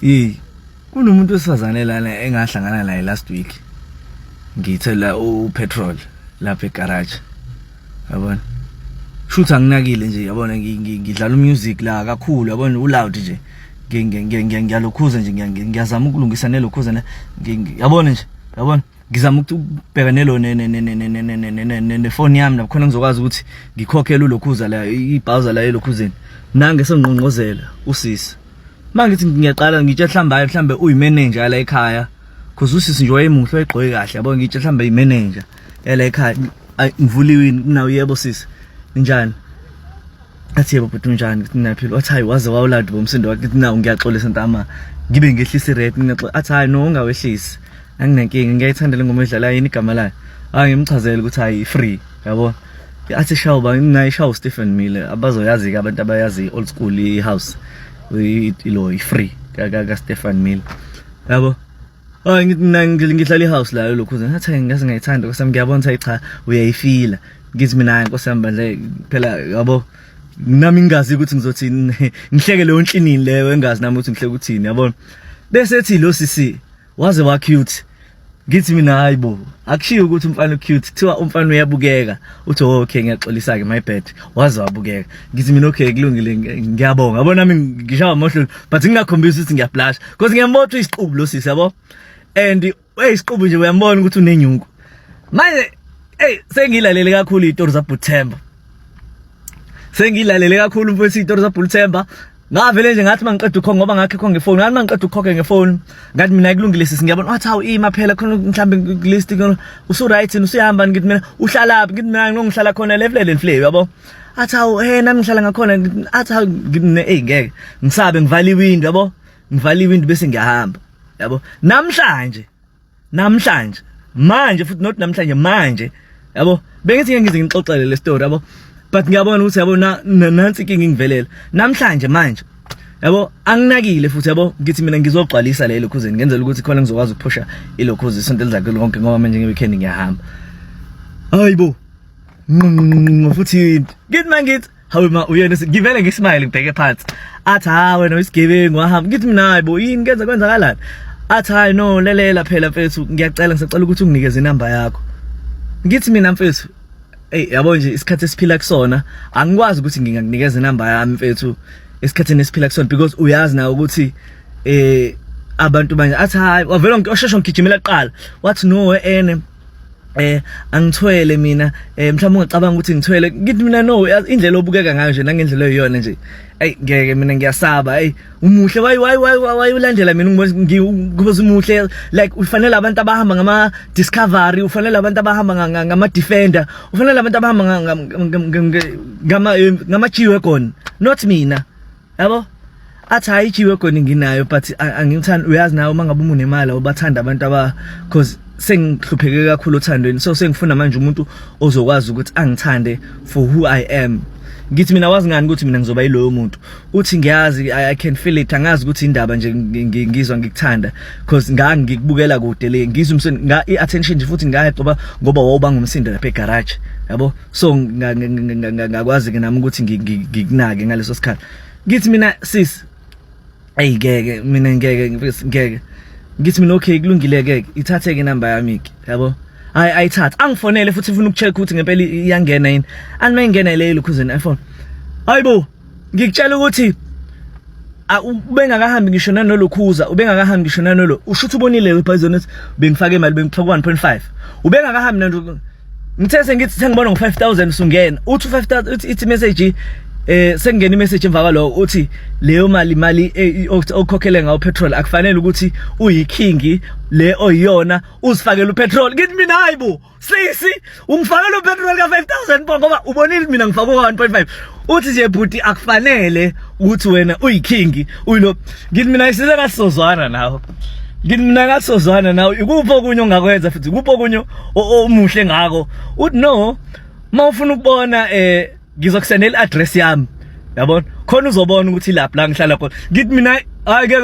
hey kunomuntu wesifazane lana engahlangana naye last week ngithela upetrol lapha egarage yabona shuthi anginakile nje yabona ngidlala umusic la kakhulu yabona uloud nje ngiyalokhuza nje ngiyazama ukulungisa nelokhuza ne yabona nje yabona ngizama ukubheka nelo nefoni yami lapho khona ngizokwazi ukuthi ngikhokhele ulokhuza la ibhawuza la elokhuzeni nange sengqongqozela usisi mangithi ngiyaqala ngitshe mhlawumbe hayi mhlawumbe uyimenenja yala ekhaya cause usisi nje wayemuhle wayegqoke kahle yabo ngitshe mhlawumbe imenenja yala ekhaya ngivuliwini kunawo yebo sisi njani athi yebo bhuti unjani ngithi ngiyaphila wathi hayi waze wawuladi bomsindo wakhe ngithi nawu ngiyaxolisa ntama ngibe ngehlisa ired ngiyaxola athi hayi no ungawehlisi anginankinga ngiyayithandela ingoma edlala yini igama layo hayi ngimchazele ukuthi hayi free yabo athi shawu ba mina ishawu Stephen Mile abazoyazi ke abantu abayazi old school i house ilo i free ka ka Stephen Mile yabo Oh ngithi mina ngihlala i house la lokho ngathi ngathi ngayithanda kwasami ngiyabona ukuthi cha uyayifila ngithi mina nkosi yami bandle phela yabo nami ngingazi ukuthi ngizothi ngihleke leyo nhlini leyo engazi nami ukuthi ngihleke ukuthini yabona bese ethi lo sisi waze wa cute ngithi mina hayi bo akushiyo ukuthi umfana ucute kuthiwa umfana uyabukeka uthi oh, okay ngiyaxolisa ke my bad waze wabukeka ngithi mina okay kulungile ngiyabonga yabo nami ngishawa amohlolo but ngingakhombisi ukuthi ngiyablash because ngiyambotha isiqubu lo sisi yabo and hey isiqubu nje uyambona ukuthi unenyungu manje hey sengilalele kakhulu itori zaButhemba sengilalele kakhulu mfowethu itori zaButhemba ngavele nje ngathi mangiqeda ukhokhe ngoba ngakhe khonke ngefoni ngathi mangiqeda ukhokhe ngefoni ngathi mina kulungile sisi ngiyabona wathi hawu ima phela khona mhlambe list usu right usuyahamba ngithi mina uhlala phi ngithi mina ngihlala khona levelele nhle yabo athi hawu hey nami ngihlala ngakhona athi hawu ngine hey ngeke ngisabe ngivala iwindi yabo ngivala iwindi bese ngiyahamba yabo namhlanje namhlanje manje futhi not namhlanje manje yabo bengithi ngeke ngize ngixoxele le story yabo but ngiyabona ukuthi yabo nansi inkinga ingivelela namhlanje manje yabo anginakile futhi yabo ngithi mina ngizogcwalisa le lokhuzini ngenzela ukuthi khona ngizokwazi ukuphusha ilokhuzi isonto elizakhe lonke ngoba manje ngeweekend ngiyahamba hayibo futhi ngithi mangithi hawe ma uyena ngivele ngismile ngibheke phansi athi ha wena uyisigebengu wahamba ngithi mina hayi bo yini kenza kwenzakalani athi hayi no lelela phela mfethu ngiyacela ngisacela ukuthi unginikeze inamba yakho ngithi mina mfethu ey yabo nje isikhathi esiphila kusona angikwazi ukuthi ngingakunikeza inamba yami mfethu esikhathini esiphila kusona because uyazi nawe ukuthi eh abantu manje athi hayi wavela ngisheshe ngigijimela kuqala wathi no ene eh angithwele mina eh mhlawumbe ungacabanga ukuthi ngithwele ngithi mina no indlela obukeka ngayo nje nangendlela eyiyona nje ayi ngeke mina ngiyasaba ayi umuhle wayi wayi wayi wayi ulandela mina ngibona umuhle like ufanele abantu abahamba ngama discovery ufanele abantu abahamba ngama defender ufanele abantu abahamba ngama ngama eh, ngama G-wagon not mina yabo athi hayi ijiwe khona nginayo but angithandi uyazi nawe uma ngabe umunemali awubathanda abantu aba cause sengihlupheke kakhulu othandweni so sengifuna manje umuntu ozokwazi ukuthi angithande for who i am ngithi mina wazi ngani ukuthi mina ngizoba yiloyo muntu uthi ngiyazi i can feel it angazi ukuthi indaba nje ngizwa ngikuthanda because ngangi ngikubukela kude le ngizwa umsindo nga i attention nje futhi ngayacoba ngoba wawuba ngumsindo lapha egarage yabo so ngakwazi ke nami ukuthi ngikunake ngaleso sikhathi ngithi mina sis ayi ngeke mina ngeke ngeke ngithi mina okay kulungile ke ithathe ke number yami ke yabo hayi ayithatha angifonele futhi ufuna ukucheck ukuthi ngempela iyangena yini anime ingena le lukhuzeni iPhone hayibo ngikutshela ukuthi ubengakahambi ngisho nanolokhuza ubengakahambi ngisho nanolo usho ukuthi ubonile wepoison ethi bengifake imali bengifaka 1.5 ubengakahambi nanto ngithe sengithi sengibona ngo5000 usungena uthi 5000 uthi ithi message eh sekungena imessage emva kwalo uthi leyo mali imali eh, okukhokhele ngawo petrol akufanele ukuthi uyikingi le oyiyona uzifakela upetrol ngithi mina hayibo sisi ungifaka lo petrol ka 5000 po ngoba ubonile mina ngifaka ka 1.5 uthi nje bhuti akufanele ukuthi wena uyiking uyilo ngithi mina isize kasizozwana nawe ngithi mina kasizozwana nawe ikuphi okunye ongakwenza futhi ikuphi okunye omuhle ngako uthi no mawufuna ukubona eh ngizokusendela i-address yami yabona khona uzobona ukuthi lapho la ngihlala khona ngithi mina hayi ke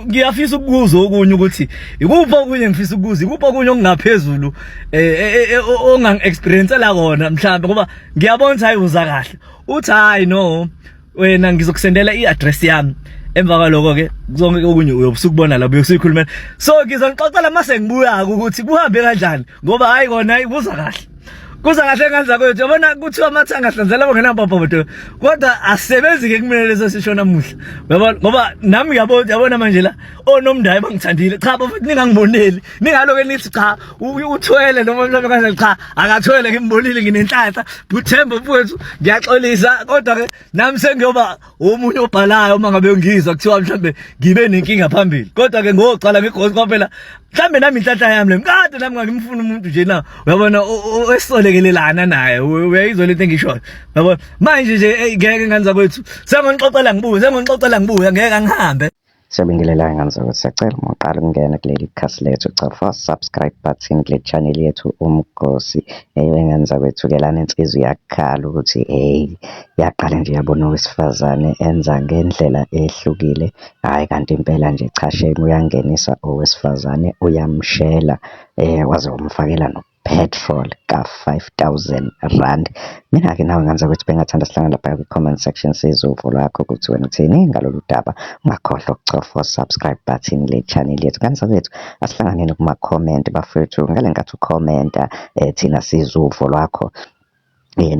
ngiyafisa ukubuza okunye ukuthi ikuphi okunye ngifisa ukubuza ikuphi okunye okungaphezulu eh, eh, eh, eh ongang experience la kona mhlawumbe ngoba ngiyabona ukuthi hayi uza kahle uthi hayi no wena ngizokusendela i-address yami emva kwaloko ke zonke okunye uyobusukubona la uyokusikhulumela so ngizonixoxela mase ngibuyaka ukuthi kuhambe kanjani ngoba hayi kona ibuza kahle kuza kahle ngane zakwethu yabona kuthiwa amathanga ahlanzela abangenababhodo kodwa asebenzi-ke kumele leso sisho namuhla uyabona ngoba nami uyabona yabona manje la onomndayo bangithandile cha bafethu ningangiboneli ningaloke nithi cha uthwele noma mhlawumbe kanjani cha akathwele ngimbonile nginenhlanhla buthemba mfowethu ngiyaxolisa kodwa-ke nami sengiyoba omunye obhalayo uma ngabe ngizwa kuthiwa mhlambe ngibe nenkinga phambili kodwa ke ngoqala ngigozi kwaphela mhlambe nami inhlanhla yami le mkade nami ngangimfuna umuntu nje na uyabona esisolekelelana naye uyayizwa lento engishoyo uyabona manje nje ngeke nganza kwethu sengonixoxela ngibuye sengonixoxela ngibuye ngeke angihambe Siyabingelela ngane zakho siyacela uma uqala ukungena kuleli khasi lethu cofa subscribe button kule channel yethu umgosi eyo ingane zakwethu ke lana insizwa iyakhala ukuthi hey yaqala nje yabona owesifazane enza ngendlela ehlukile hayi kanti impela nje cha shame uyangenisa owesifazane uyamshela eh waze wamfakela no petrol ka 5000 rand. Mina-ke nawe ngenzeka ukuthi bengathanda sihlangane lapha kwi-comment section sizwe uvo lwakho ukuthi wena uthini ngalolu daba. Ungakhohlwa ukucofa subscribe button le channel yethu. Kanti sakwethu asihlanganeni kuma-comment bafethu ngale nkathi ukhomenta eh, thina sizwe uvo lwakho.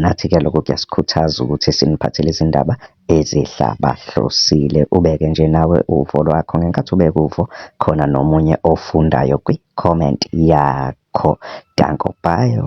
Nathi-ke lokho kuyasikhuthaza ukuthi siniphathele izindaba ezihlabahlosile, ubeke nje nawe uvo lwakho ngenkathi ubeka uvo khona nomunye ofundayo kwi-comment yakho. Danko bayo.